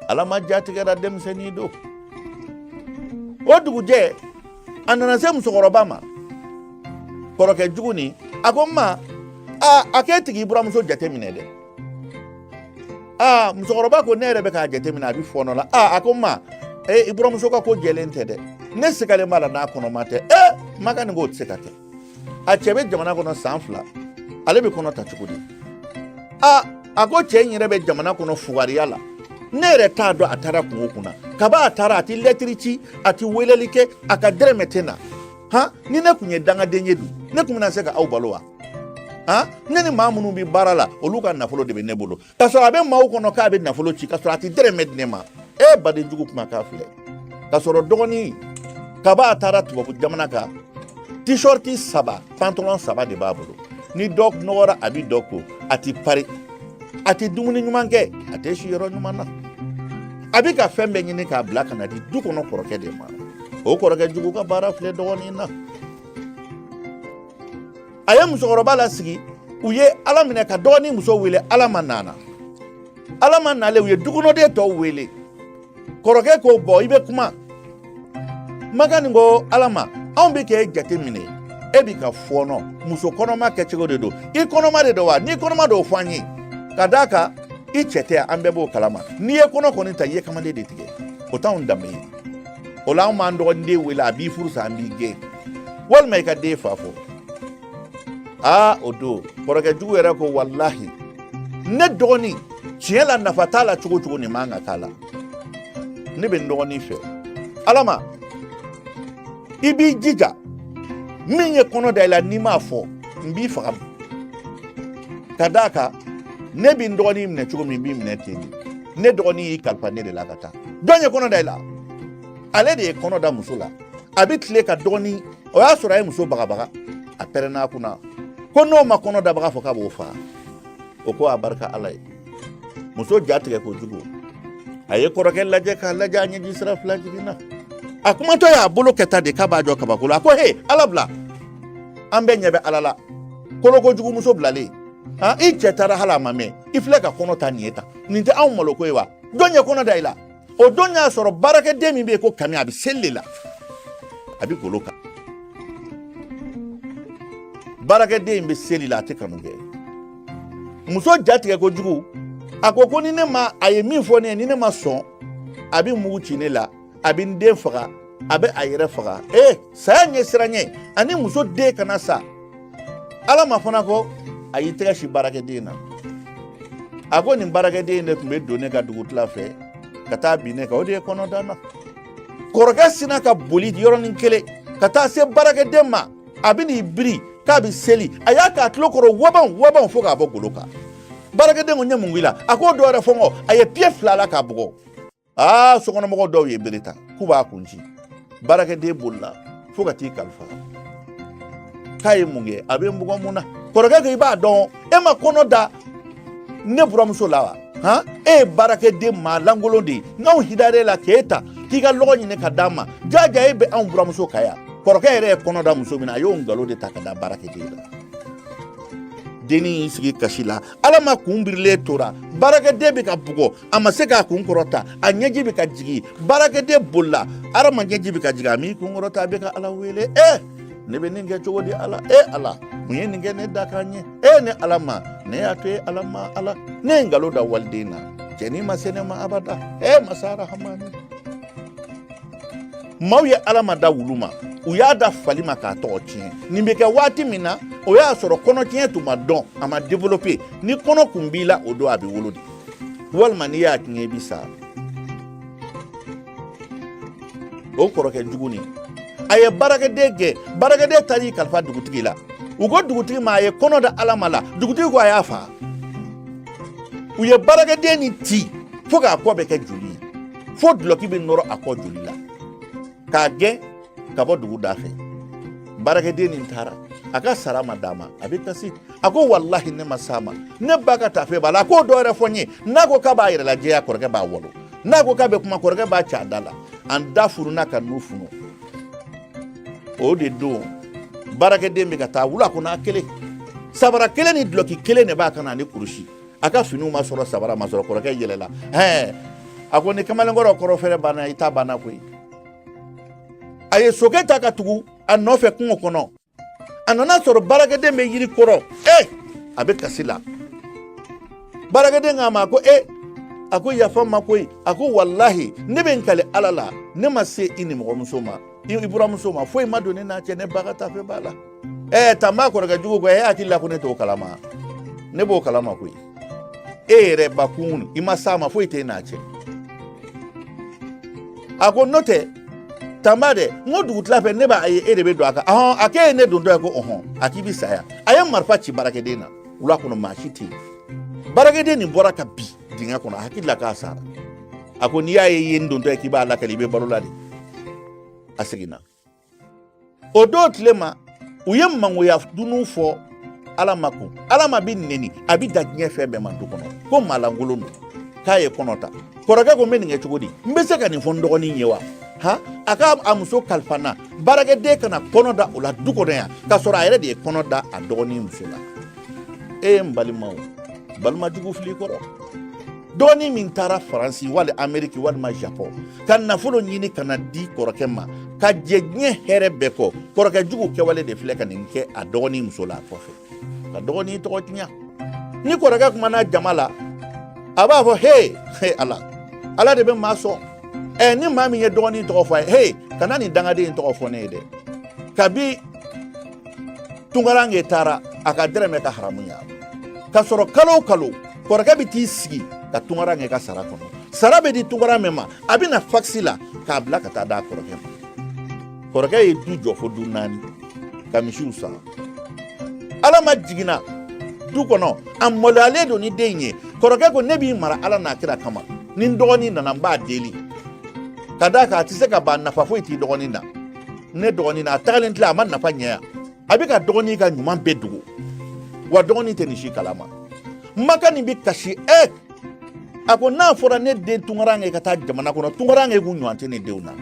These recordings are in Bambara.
alama jatigɛra denmisɛnnin don o dugujɛ a nana se musokɔrɔba ma kɔrɔkɛ jugu nin a ko n ma aa a k'e tɛ k'i buramuso jateminɛ dɛ aa musokɔrɔba ko ne yɛrɛ bɛ k'a jateminɛ a bɛ fɔɔnɔ la aa a ko n ma ee i buramuso ka ko jɛlen tɛ dɛ ne sigalen b'a la n'a kɔnɔma tɛ ee ma kani k'o tɛ se ka kɛ a cɛ bɛ jamana kɔnɔ san fila ale bɛ kɔnɔ ta cogo di a a ko cɛ in yɛrɛ bɛ jamana kɔnɔ fugariya la ne yɛrɛ t'a dɔn a taara kun o kun na kaba a taara a tɛ lɛtiri ci a tɛ weleli kɛ a ka dɛrɛmɛ tɛ na han ni ne tun ye dangaden ye dun ne tun bɛna se ka aw balo wa han ne ni maa minnu bɛ baara la olu ka nafolo de bɛ ne bolo ka sɔrɔ a bɛ maaw kɔnɔ k'a bɛ nafolo ci ka sɔrɔ a tɛ dɛrɛmɛ di ne ma e baden jugu kumakan filɛ ka sɔrɔ dɔgɔnin kaba a taara tubabu jamana kan tishɔriti saba pantalɔn saba de b'a bolo ni dɔ nɔgɔra a bɛ dɔ ko a tɛ pari a tɛ dumuni ɲuman kɛ a tɛ si yɔrɔ ɲuman na a bɛ ka fɛn bɛɛ ɲini k'a bila ka na di du kɔnɔ kɔrɔkɛ de ma o kɔrɔkɛ jugu ka baara filɛ dɔgɔnin na a ye musokɔrɔba lasigi u ye ala minɛ ka dɔgɔnin muso wele alama nana alama nalen u ye dukɔnɔden tɔw wele kɔrɔkɛ ko bɔn i bɛ kuma ma kani ko alama anw bɛ k'e jate minɛ e bɛ ka fɔɔnɔ muso kɔnɔma kɛcogo de don i kɔnɔma de don wa n'i kɔnɔma don o fɔ an ye ka d'a kan i cɛ tɛ an bɛɛ b'o kalama n'i ye kɔnɔ kɔni ta i ye kamalen de tigɛ o t'anw danbe ye o la anw b'an dɔgɔnin de wele a b'i furu sa an b'i gɛn walima i ka den fa fɔ aa o don kɔrɔkɛ jugu yɛrɛ ko walahi ne dɔgɔnin tiɲɛ la nafa t'a la cogo cogo nin man kan k'a la ne bɛ n dɔgɔnin fɛ alama i b'i jija min ye kɔnɔ da i la n'i m'a fɔ n b'i faga ka d'a kan ne bɛ n dɔgɔnin minɛ cogo min n b'i minɛ ten de ne dɔgɔnin y'i kalifa ne de la ka taa jɔn ye kɔnɔ da i la ale de ye kɔnɔ da muso la a bɛ tile ka dɔgɔnin o y'a sɔrɔ a ye muso bagabaga a pɛrɛnna a kunna ko n'o ma kɔnɔ dabaga fɔ k'a b'o faga o ko a barika ala ye muso ja tigɛ kojugu a ye kɔrɔkɛ lajɛ k'a lajɛ a ɲɛji sira fila jiginna a kumatɔ y'a bolo kɛ tan de k'a b'a jɔ kabakolo la a ko he ala bila an bɛɛ ɲɛ bɛ ala la kolokojugu muso bilalen i cɛ taara hali a ma mɛn i filɛ ka kɔnɔ ta nin ye tan nin tɛ anw maloko ye wa jɔn ye kɔnɔ da i la o don y'a sɔrɔ baarakɛden min bɛ yen ko kami a bɛ seli de la a bɛ golo kan baarakɛden in bɛ seli la a tɛ kanu kɛ muso jatigɛ kojugu a ko ko ni ne ma a ye min fɔ ne ye ni ne ma sɔn a bɛ mugu ci ne la a bɛ n den faga a bɛ a yɛrɛ faga ee saya ɲɛsiranɲɛ ani muso den kana sa alama fana ko a y'i tɛgɛ sin baarakɛden na a ko nin baarakɛden de tun bɛ don ne ka dugutila fɛ ka taa bin ne kan o de ye kɔnɔ da n na kɔrɔkɛ sinna ka boli yɔrɔnin kelen ka taa se baarakɛden ma a bɛn'i biri k'a bɛ seli a y'a k'a tulo kɔrɔ wabanw wabanw fo k'a bɔ golo kan baarakɛden ko n ye mun k'i la a ko dɔ wɛrɛ fɔ n kɔ a ye piye fila la k'a bugɔ aa sokɔnɔmɔgɔ dɔw ye bere ta k'u b'a kun ci baarakɛden bolila fo ka t'i kalifa k'a ye mun kɛ a bɛ n bugɔ mun na kɔrɔkɛ ko i b'a dɔn e ma kɔnɔ da ne buramuso la wa han e ye baarakɛden maa lankolon de ye nk'anw hinar'e la k'e ta k'i ka lɔgɔ ɲini ka d'a ma jaja e bɛ anw buramuso kan yan kɔrɔkɛ yɛrɛ ye kɔnɔ da muso min na a y'o nkalon de ta ka da baarakɛden la dennin y'i sigi kasi la alama kun birilen tora baarakɛden bɛ ka bugɔ a ma se k'a kun kɔrɔta a ɲɛji bɛ ka jigin baarakɛden bolila alama ɲɛji bɛ ka jigin a m'i kun kɔrɔta a bɛ ka ala wele e eh! ne bɛ nin kɛ cogo di ala e eh, ala mun ye nin kɛ ne dakan ye e eh, ne alama ne y'a to e ala ma ala ne ye nkalon da waliden na cɛnin ma se ne ma abada e masa arahamani maaw ye alama da wulu ma u y'a da fali ma k'a tɔgɔ tiɲɛ nin bɛ kɛ waati min na o y'a sɔrɔ kɔnɔtiɲɛ tun ma dɔn a ma développer ni kɔnɔ kun b'i la o don a bɛ wolo de walima n'i y'a tiɲɛ i bi sa o kɔrɔkɛ jugu nin a ye baarakɛden gɛn baarakɛden taar'i kalifa dugutigi la u ko dugutigi ma a ye kɔnɔ da alama la dugutigi ko a y'a fa u ye baarakɛden nin ci fo k'a kɔ bɛɛ kɛ joli ye fo dulɔki bɛ nɔrɔ a kɔ joli la k'a gɛn ka bɔ dugu da fɛ baarakɛden nin taara a ka sara ma d'a ma a bɛ kasi a ko walahi ne ma s'a ma ne ba ka tafe b'a la a ko dɔ wɛrɛ fɔ n ye n'a ko k'a b'a yɛrɛ lajɛya kɔrɔkɛ b'a wɔlɔ n'a ko k'a bɛ kuma kɔrɔkɛ b'a c'a da la a da fununa ka nun funu o de don baarakɛden bɛ ka taa wula kɔnɔ a kelen sabara kelen ni dulɔki kelen de b'a kan na ni kurusi a ka finiw ma sɔrɔ sabara ma sɔrɔ kɔrɔkɛ yɛlɛla hɛ a ko ni kamalenkɔrɔ kɔrɔ fɛrɛ banna i ta banna koyi a ye sokɛ ta ka tugu a nɔfɛ kungo kɔnɔ a nan'a sɔrɔ baarakɛden bɛ yiri kɔrɔ e a bɛ kasi la baarakɛden k'a ma ko e a ko yafa n ma koyi a ko walahi ne bɛ n kali ala la ne ma se i nimɔgɔmuso ma i buramuso ma foyi ma don ne n'a cɛ ne ba ka tafe b'a la ɛɛ tanba kɔrɔkɛ jugu ko e hakili la ko ne t'o kalama ne b'o kalama koyi e yɛrɛ bakun i ma s'a ma foyi t'e n'a cɛ a ko n'o tɛ tanba dɛ n ko dugutila fɛ ne b'a ye e de bɛ don a kan ɔhɔn a k'e ye ne dontɔ ye ko ɔhɔn a k'i bɛ sa yan a ye marifa ci baarakɛden na wula kɔnɔ maa si tɛ yen baarakɛden nin bɔra ka bin dingɛ kɔnɔ a hakili la k'a sara a ko n'i y'a ye i ye n dontɔ ye k'i b'a lakali i bɛ balo la de a seginna o don tile ma u ye mangoya dunun fɔ alama kun alama bi neni a bi da diɲɛ fɛn bɛɛ ma du kɔnɔ ko maalankolon don k'a ye kɔnɔ ta kɔrɔkɛ ko n bɛ nin kɛ cogo di n bɛ se ka nin fɔ n dɔgɔnin ye wa ha a ka a muso kalifa n na baarakɛden kana kɔnɔ da o la du kɔnɔ yan k'a sɔrɔ a yɛrɛ de ye kɔnɔ da a dɔgɔnin muso la e ye n balimaw balima jugu fili kɔrɔ dɔgɔnin min taara faransi wali ameriki walima japɔn ka nafolo ɲini ka na di kɔrɔkɛ ma ka jɛ diɲɛ hɛrɛ bɛɛ kɔ kɔrɔkɛ jugu kɛwale de filɛ ka nin kɛ a dɔgɔnin muso la a kɔfɛ ka dɔgɔnin tɔgɔ tiɲa ni kɔrɔkɛ kumana jama la a b'a fɔ he he ala ala de bɛ maa sɔn ɛ ni maa min ye dɔgɔnin tɔgɔ fɔ a ye he kana nin dangaden tɔgɔ fɔ ne ye dɛ kabi tunkarankɛ taara a ka dɛrɛmɛ ka haramuya k'a sɔrɔ kalo kalo kɔrɔkɛ bɛ t'i sigi ka tunkarankɛ ka sara kɔnɔ sara bɛ di tunkaran min ma a bɛ na fakisi la k'a bila ka taa d'a kɔrɔkɛ ma kɔrɔkɛ ye du jɔ fo du naani ka misiw san alama jiginna du kɔnɔ a maloyalen don ni den ye kɔrɔkɛ ko ne b'i mara ala n'a kira kama ni dɔgɔnin nana n b'a deli ka d'a kan a tɛ se ka ban nafa foyi t'i dɔgɔnin na ne dɔgɔnin na a tagalen tila a ma nafa ɲɛ yan a bɛ ka dɔgɔnin ka ɲuman bɛɛ dogo wa dɔgɔnin tɛ nin si kalama ma kani bɛ kasi ɛ a ko n'a fɔra ne den tunkarankɛ ka taa jamana kɔnɔ tunkarankɛ k'u ɲɔgɔn tɛ ne denw na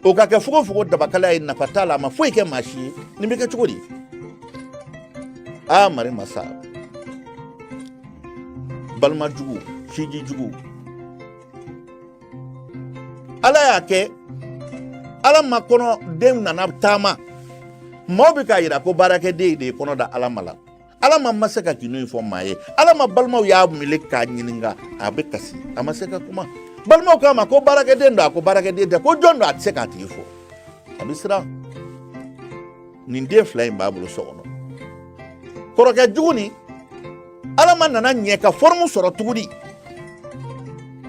o ka kɛ fogofogo dabakala ye nafa t'a la a ma foyi kɛ maa si ye nin bɛ kɛ cogo di aa mari masa balima jugu sinji jugu ala y'a kɛ alama kɔnɔ den nana taama maaw bɛ k'a yira ko baarakɛden de ye kɔnɔ da alama la alama ma se ka gindo in fɔ maa ye alama balimaw y'a wele k'a ɲininka a bɛ kasi a ma se ka kuma balimaw k'a ma ko baarakɛden don a ko baarakɛden tɛ ko jɔn don a tɛ se k'a tigi fɔ a bɛ siran nin den fila in b'a bolo so kɔnɔ kɔrɔkɛ jugu nin alama nana ɲɛ ka fɔrɔmu sɔrɔ tuguni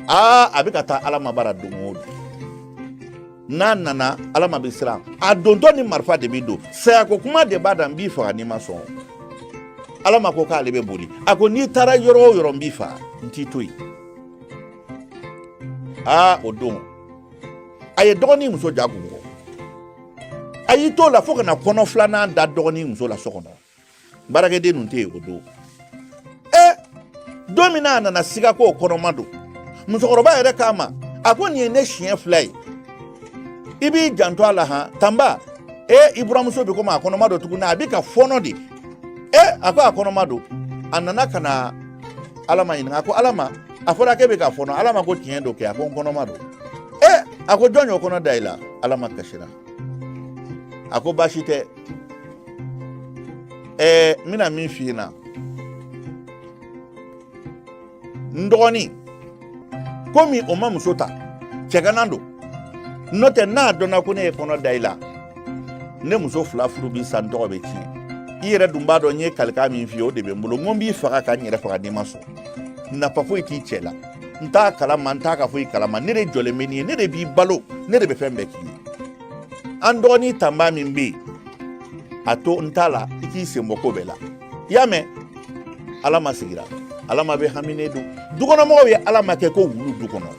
aa a bɛ ka taa alama bara don o don n'a nana alama bɛ siran a dontɔ ni marifa de bɛ don sayako kuma de b'a da n b'i faga n'i ma sɔn alama ko k'ale bɛ boli a ko n'i taara yɔrɔ o yɔrɔ n b'i faga n t'i to yen aa o don a ye dɔgɔnin muso ja kun kɔ a y'i t'o la fo ka na kɔnɔ filanan da dɔgɔnin muso la so kɔnɔ baarakɛden ninnu tɛ yen o don ɛ don min na a nana siga ko kɔnɔma don musokɔrɔba yɛrɛ k'a ma a ko nin ye ne siɲɛ fila ye i b'i janto a la han tanba e i buramuso bɛ komi a kɔnɔma don tuguni a bɛ ka fɔɔnɔ de e a ko a kɔnɔma don a nana ka na alama ɲininka a ko alama a fɔra k'e bɛ ka fɔɔnɔ alama ko tiɲɛ don kɛ a ko n kɔnɔma don e a ko jɔn y'o kɔnɔ da i la alama kasira a ko baasi tɛ ɛɛ n bɛna min f'i ɲɛna n dɔgɔnin komi o ma muso ta cɛganan don n'o tɛ n'a dɔnna ko ne ye kɔnɔ da i la ne muso fila furu bɛ sa n tɔgɔ bɛ tiɲɛ i yɛrɛ dun b'a dɔn n ye kalikan min f'i ye o de bɛ n bolo n ko n b'i faga ka n yɛrɛ faga n'i ma sɔn nafa foyi t'i cɛ la n t'a kalama n t'a ka foyi kalama ne de jɔlen bɛ n'i ye ne de b'i balo ne de bɛ fɛn bɛɛ k'i ye an dɔgɔnin tanba min bɛ yen a to n t'a la i k'i sen bɔ ko bɛɛ la i y'a mɛn alama sigira alama bɛ haminen don dukɔnɔmɔgɔw ye alama kɛ ko wulu du kɔnɔ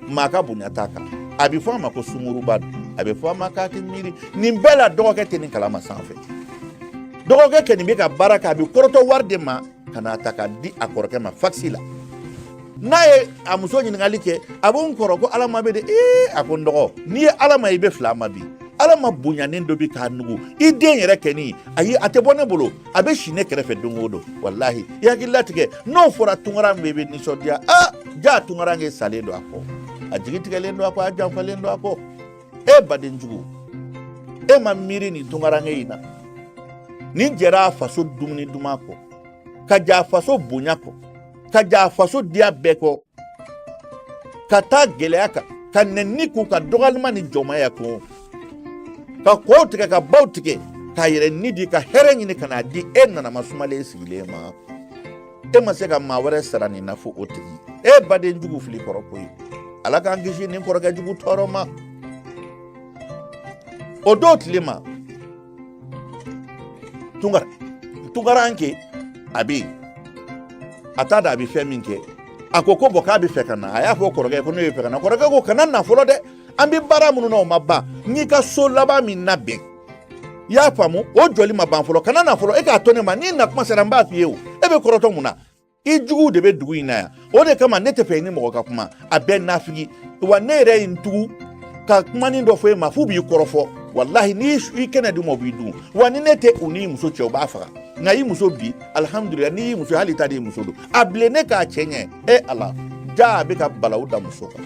maa ka bonya t'a kan a bɛ fɔ a ma ko sungurunba don a bɛ fɔ a ma k'a tɛ miiri nin bɛɛ la dɔgɔkɛ tɛ nin kalama sanfɛ dɔgɔkɛ kɛnin bɛ ka baara kɛ a bɛ kɔrɔtɔ wari de ma ka n'a ta k'a di a kɔrɔkɛ ma fakisi la n'a ye a muso ɲininkali kɛ a b'o n kɔrɔ ko alama bɛ di ee a ko n dɔgɔ n'i ye alama y'i bɛ fil'a ma bi alama bonyanen don bi ka nugu i den yɛrɛ kɛni ayi a tɛ bɔ ne bolo a bɛ si ne kɛrɛfɛ don o don walahi i hakili latigɛ n'o fɔra tunkaranke bɛ nisɔndiya jaa tunkaranke salen don a kɔ a jigi tigɛlen don a kɔ a janfalen don a kɔ e badenjugu e ma miiri nin tunkaranke in na nin jɛra a faso dumuni duman kɔ ka jɛ a faso bonya kɔ ka jɛ a faso diya bɛɛ kɔ ka taa gɛlɛya kan ka nɛni kun ka dɔgɔlima ni jɔnmaya kun ka kɔw tigɛ ka baw tigɛ k'a yɛrɛ ni di ka hɛrɛ ɲini ka n'a di e nanama sumalen sigilen ma e ma se ka maa wɛrɛ sara nin na fo o tigi e baden jugu fili kɔrɔ koyi ala k'an kisi nin kɔrɔkɛ jugu tɔɔrɔ ma o don tile ma tunkaranke a bɛ yen a t'a dɔn a bɛ fɛn min kɛ a ko ko bɔn k'a bɛ fɛ ka na a y'a fɔ kɔrɔkɛ ko ne bɛ fɛ ka na kɔrɔkɛ ko kana na fɔlɔ dɛ an bɛ baara minnu na o ma ban n y'i ka so laban min labɛn i y'a faamu o jɔli ma ban fɔlɔ kana na fɔlɔ e k'a to ne ma n'i na tuma sera n b'a f'i ye o e bɛ kɔrɔtɔ mun na i juguw de bɛ dugu in na yan o de kama ne tɛ fɛ i ni mɔgɔ ka kuma a bɛɛ nafigi wa ne yɛrɛ ye n tugu ka kumanin dɔ fɔ e ma f'u b'i kɔrɔfɔ walahi n'i i kɛnɛ d'u ma u b'i dun wa ni ne tɛ u n'i muso cɛ u b'a faga nka i muso bi alihamudulila n'i y'i muso hali ta de y'i muso don a bilennen k'a cɛ ɲɛ e ala jaa a bɛ ka balawu da muso kan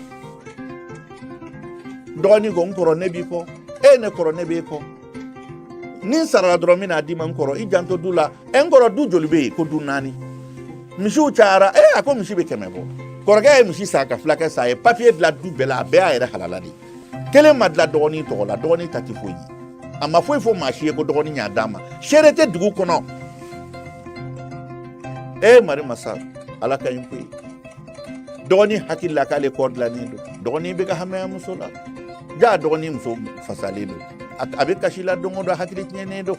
dɔgɔnin ko n kɔrɔ ne b'i kɔ e ne kɔrɔ ne b'e kɔ ni n sarala dɔrɔn n bɛ n'a d'i ma n kɔrɔ i janto du la e n kɔrɔ du joli bɛ yen ko du naani misiw cayara e a ko misi bɛ kɛmɛ bɔ kɔrɔkɛ ye misi san ka fulakɛ san a ye papiye dilan du bɛɛ la a bɛɛ y'a yɛrɛ halala de kelen ma dilan dɔgɔnin tɔgɔ la dɔgɔnin ta tɛ foyi ye a ma foyi fɔ maa si ye ko dɔgɔnin y'a d'a ma seere tɛ dugu kɔnɔ e mari masa ala ka ɲi koyi dɔgɔnin hakili la k'ale kɔ dilannen don dɔgɔnin bɛ ka hami a muso la ja dɔgɔnin muso fasalen don a bɛ kasi la don o don hakili tiɲɛnen don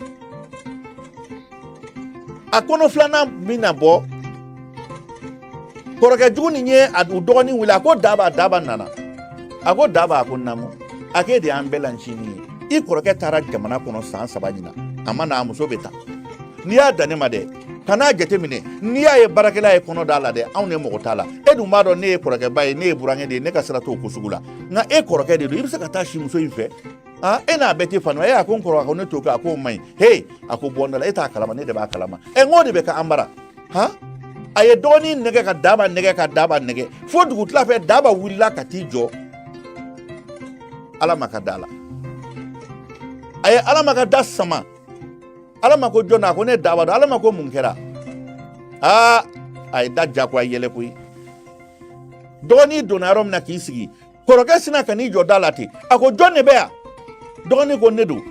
a kɔnɔ filanan bɛ na bɔ kɔrɔkɛ jugu nin ye u dɔgɔnin wele a ko daba daba nana a ko daba a ko namu a k'e de y'an bɛɛ lancinin ye i kɔrɔkɛ taara jamana kɔnɔ san saba ɲinan a ma na a muso bɛ tan n'i y'a dan ne ma dɛ kan'a jate minɛ n'i y'a ye baarakɛla ye kɔnɔ d'a la dɛ anw ne mago t'a la e dun b'a dɔn ne ye kɔrɔkɛba ye ne ye burankɛ de ye ne ka sira t'o ko sugu la nka e kɔrɔkɛ de don i bɛ se ka taa si muso in fɛ ah e n'a bɛɛ tɛ fanu e a ko n kɔrɔ a ko ne t'o kɛ a ko o man ɲi he a ko bɔ n da la e t'a kalama ne de b'a kalama ɛ n k'o de bɛ ka an bara han a ye dɔgɔnin nɛgɛn ka daba nɛgɛn ka daba nɛgɛn fo dugutila fɛ daba wulila ka t'i jɔ alama ka da la a ye alama ka da sama alama ko jɔn a ko ne daba don alama ko mun kɛra aa a ye da jagoya yɛlɛ koyi dɔgɔnin donna yɔrɔ min na k'i sigi kɔrɔkɛ sina ka n'i jɔ da la ten a ko jɔn de bɛ yan dɔgɔnin ko ne don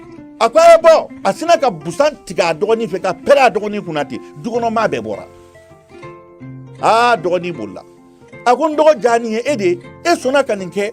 a ko a ye bɔ a sina ka busan tigɛ a dɔgɔnin fɛ ka pɛrɛn a dɔgɔnin kunna ten dukɔnɔmaa bɛɛ bɔra aa dɔgɔnin bolila a ko n dɔgɔ ja nin ye e de ye e sɔnna ka nin kɛ